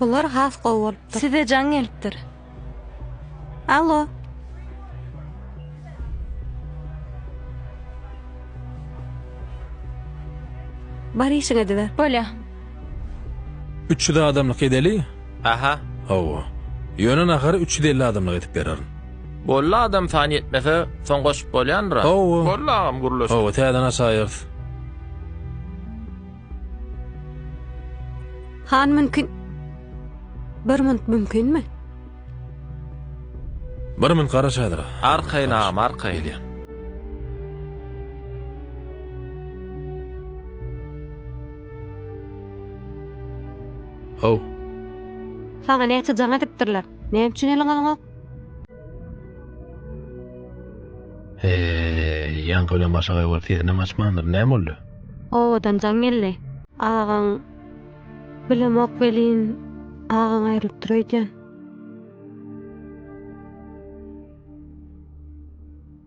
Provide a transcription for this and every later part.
Bular has gowy bolupdyr. Size jaň gelipdir. Alo. Bar işiň ediber. Bolýa. 300 adamlyk edeli? Aha. Hawa. Ýöne nahary 350 adamlyk edip bererin. Bolly adam sany ýetmese soň goşup bolýandyra. Hawa. Bolly agam gürleşdik. Hawa täzeden açaýarys. Han mümkin. Bir munt mümkinmi? Bir munt gara çadyra. Arkaýyn agam arkaýyn. Gelýän. Haw. Saňa näçe jaň edipdirler? Näme üçin eliň alňak? Heý, ýaňky bilen başagaý bolup sesinem açmandyr. Näme boldy? Obadan jaň geldi. Agaň bilemok welin, agaň aýrylypdyr öýdýän.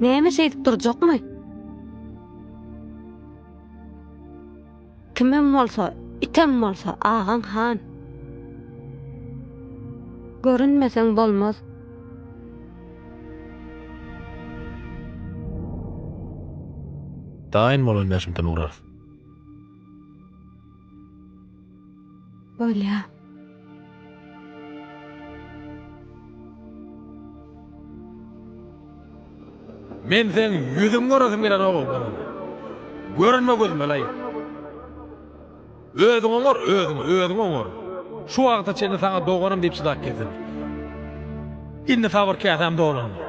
Näme şeýdip durjakmy? Kimem bolsa, item bolsa, agaň han. Görünmeseň bolmaz. Daýyn bolan bäşimden urarys. Bolýa. Men seň ýüzüňi görasym gelen ogul bolan. Görünme gözüme laýyk. Özüň oňar, özüň, özüň oňar. Şu wagta çenli saňa doganym diýip çydap geldim. Indi sabyr käsäm dolandy.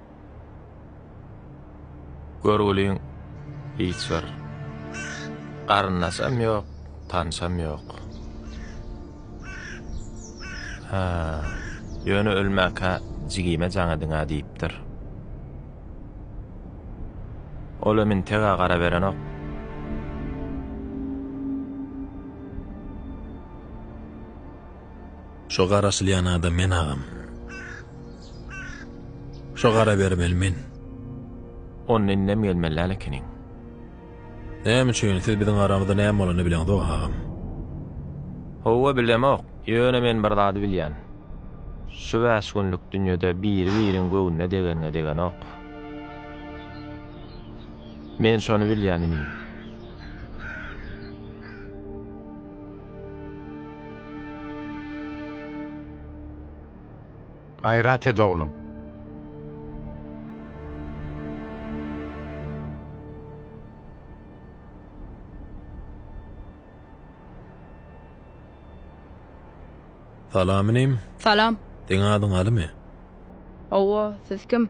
Görgüliň hiç bir garyndaşam ýok, tanşam ýok. Ha, ýöne ölmäkä jigime jaň ediň-ä diýipdir. Ol hem integä garaberenok. Şo garaşylýan adam men agam. Şo gara bermeli men. Onda indem gelmeli däl ekeniň. Näme üçin, siz biziň aramyzda näme bolanyny bileňizok agam. Howwa bilemok, ýöne men bir zady bilýän. Şu bäş günlük dünýede biri biriň göwnüne degenine degenok. Men şony bilýän inim. Gaýrat et oglum. Salam inim. Salam. Seň adyň Alymy? Hawa, siz kim?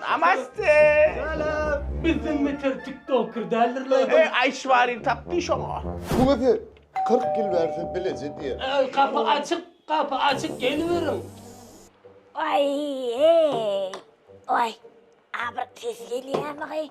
Namaste. Salam. Bizden beter tiktoker däldir la. Eý, Aýşwari tapdy şoňa. Bu gezi 40 ýyl bärde bileje diýer. Gapy açyk, gapy açyk geliberiň. Aý eý. Aý. Abyr tez gelýämigy.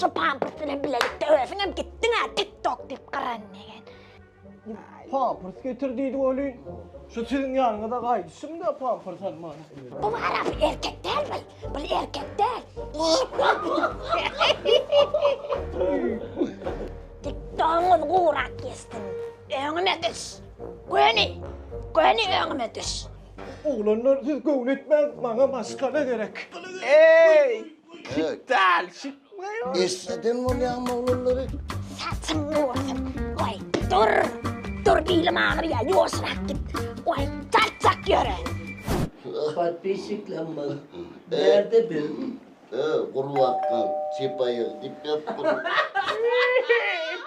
Şu pampers bilen bilelikde özüňem gitdiň-ä tik tok diýip gyran degen. Pampers getir diýdi welin, şu siziň ýanyňyza gaýdyşym-da pampers almaga. Bu arap erkek däl bil, bul erkek däl. Tik togyňyz gurak ýessin. Öňüme düş. Göni, göni öňüme düş. Oglanlar siz göwün etmäň, maňa maşgala gerek. Eý! Şit däl, şit. Eşiden bolýaň moglallary. Saçyň bolsun. Oý, dur. Dur, bilim aňyr ýa, ýoşurak git. Oý, çak-çak ýöre. Podpisçiklenme. Berde bir. Gurbatdan çypaýygy dip ýapyp.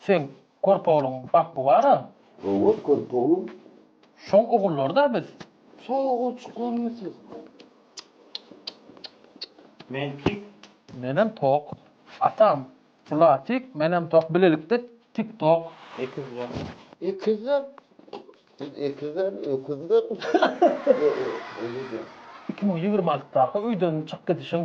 Sen körpe ogluň bak bu bara. Hawa körpe oglum. Şoň ogullary da biz. Şoň ogulçyklarmy siz. Men tik. Menem tok. Atam. Bular tik menem tok bilelikde tik tok. Ekizler. Ekizler. Siz ekizler öküzler. Iki müň ýigrimi altydaky öýden çykyp gidişiň.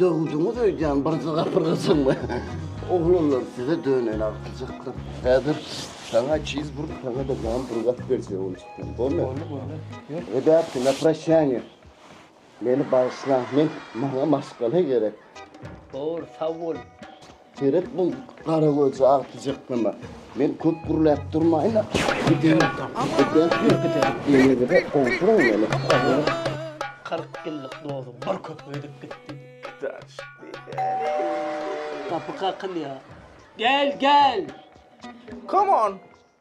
Döwdüňiz öýdýän bir zygar bir gyzyňmy? Oglanlar size döneýin agtyjaklar. Häzir saňa çiz burt saňada nam bir gap berse boljak. Bolmy? Boldy boldy. Ýör. Rebätki na prasýaňe. Meni bagyşlaň men maňa maşgala gerek. Bor sag bol. Seret bu gara gözi agtyjaklama. Men köp gürläp durmaýyn-a. Kyrk ýyllyk dozum bir köp ödüp gitdi. Gapy kakylýar. Gel, gel! Come on!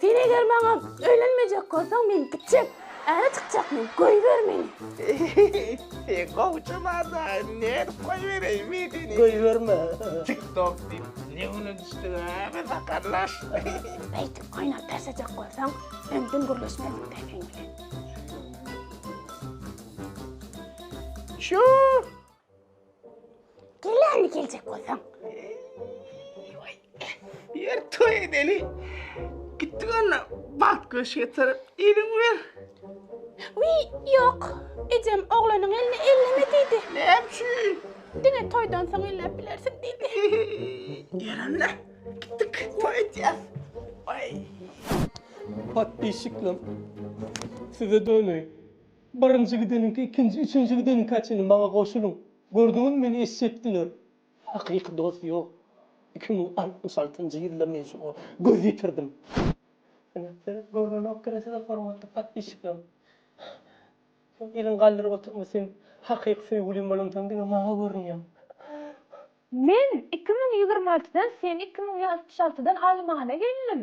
Sen eger maňa öýlenmejek bolsaň men gitjek. Äre çykjak men, goýber meni. Sen gowy çyma-da, nädip goýbereýin men seni. Goýberme. Tik tok diýip ne güne düşdüg-ä biz sakarlar. Beýtip oýnap persejek bolsaň öňden gürleşmezdik dä seň bilen. Çüuuh! Gelýän geljek bolsaň. Ýer toý edeli. Gitdi görnä, bagt göş getirip, eliňi ber. Wiý, ýok. Ejem oglanyň elini elleme diýdi. Näme üçin? Diňe toýdan soň elläp bilersiň diýdi. Ýöränle. Gitdik, toý edýäs. Waý. Podpisçiklerim. Size döneý. Birinji gideniňki ikinji üçünji gideniňka çenli maňa goşulyň. Gördüňiz meni eşek diler. Hakyky dost ýok. Iki müň altmyş altynjy ýylda men şoňa göz ýetirdim. Ine, seret görnenok gene size hormatly podpisçiklerim. Köp ýylyň galdyryp oturma sen hakyky söýgülim bolan soň diňe maňa görünýäň. Men iki müň ýigrimi altydan sen iki müň altmyş altydan almana geldim.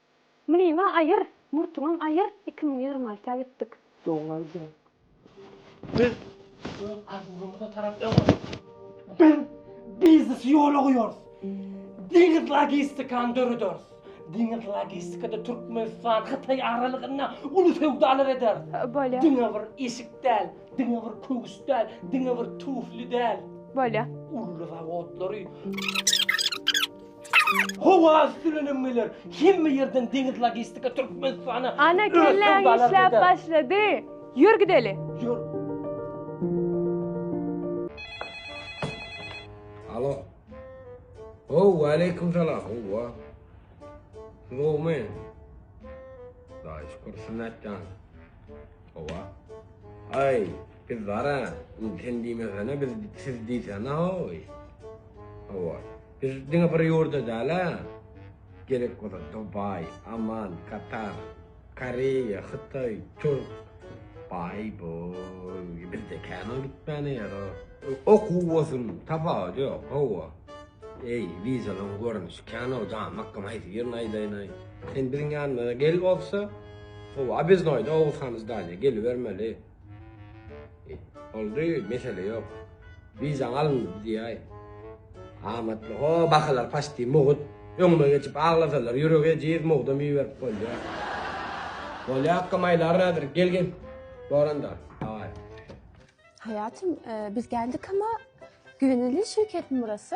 Mlyňa aýyr, murtuňam aýyr, iki müň ýigrimi alta gitdik. Doň aýdýan. Biz öz arzumyza tarap öňe gitdik. Biz biznesi ýola goýarys. Deňiz logistikany dörederis. Deňiz logistikada Türkmenistan, Hytaý aralygynda uly söwdalar ederis. Bolýa. Diňe bir eşik däl, diňe bir köwüş däl, diňe bir tufli däl. Bolýa. Uly zawodlary. Howa üsti bilen hem geler. Hemme ýerden deňiz logistika Türkmenistana. Ana kelläň işläp başlady. Ýör gideli. Ýör. Alo. Ho, waleýkim salam. Howa. Nowmy? Daýy şükür sünnetjan. Howa. Ay, biz zara, sen diýmesene, biz siz diýsene, hoy. Howa. Biz diňe bir ýurda däl-ä, gerek bolsa Dubaý, Amman, Katar, Koreýa, Hytaý, Türk, baý bol, bizde kän ol gitmäne ýer-o. Okuw bolsun, tapawudy ýok, hawa. Eý, wizalaň görnüşi kän-ow, jan akgam haýsy birini aýdaýyn-aý. Sen biziň ýanymyza gel bolsa, howa biz noýda Oguz han Zdaniýa gelibermeli. Boldy, mesele ýok. Wizaň alyndy biz diýäý. Amatly ho, bakalar paçti mugut. Öňüme geçip aglasalar ýüregi ejiz mugdam iberip bolýa. Bolýa akga maýlar häzir gel gel. Boranda daway. Haýatym biz geldik ama güvenilli şirketmi burasy?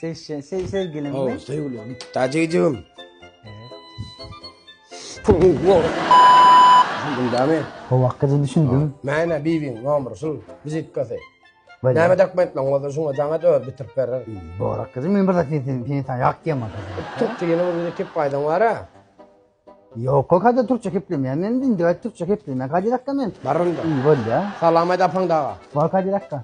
Sevişen, sev, sevgilin mi? Sevgilim. Dajijim. Düşündüňmi? Howak gyzy düşündim. Mäne bibiň nomeri şul, vizitkasy. Böyle. Näme dokumentleň bolsa şuňa jaňa dör bitirip berer. Borak gyzy men bir zat diýdim, sen sen ýak diýemok. Türkçe ýene bir bize kep gaýdan wara. Ýok, o kadar Türkçe keplemeýän. Men din döwet Türkçe kepleýän. Kadirakka men. Barynda. Bolýa. Salam aýt apaň daga. Bol kadirakka.